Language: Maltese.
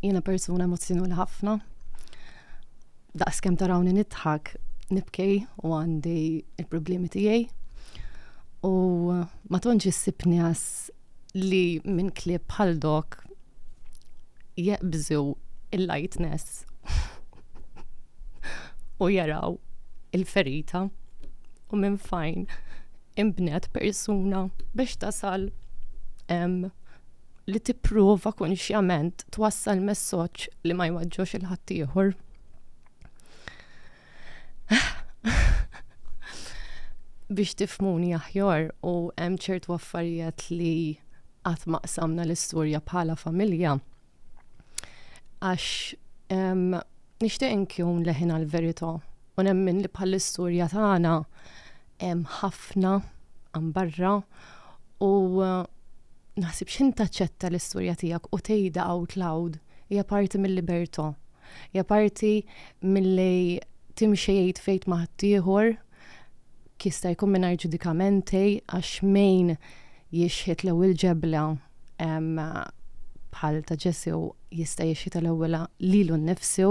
Jiena persuna emozzjonali ħafna. Daqs kemm tarawni nidħak, nibkej u għandi il-problemi tiegħi. U ma tonġ issib nies li minn klieb bħal dok jeqbżu il-lightness u jaraw il-ferita u minn fajn imbnet persuna biex tasal li tipprova konxjament twassal messoġġ li ma jwaġġox il-ħaddieħor. Biex tifmuni aħjar u hemm ċertu affarijiet li qatt ma qsamna l-istorja bħala familja. Għax nixtieq inkun leħin għal verità u nemmen li bħal-istorja tagħna Hemm ħafna għan barra u eh, naħsib xin taċċetta l-istorja tiegħek u tgħidha out loud hija parti mill-libertà. Hija parti milli timxejt fejt ma' ħaddieħor kista jkun mingħajr ġudikamenti għax mejn jixħet l-ewwel ġebla bħal ta' ġesu jista' jixħet l-ewwel lilu nnifsu.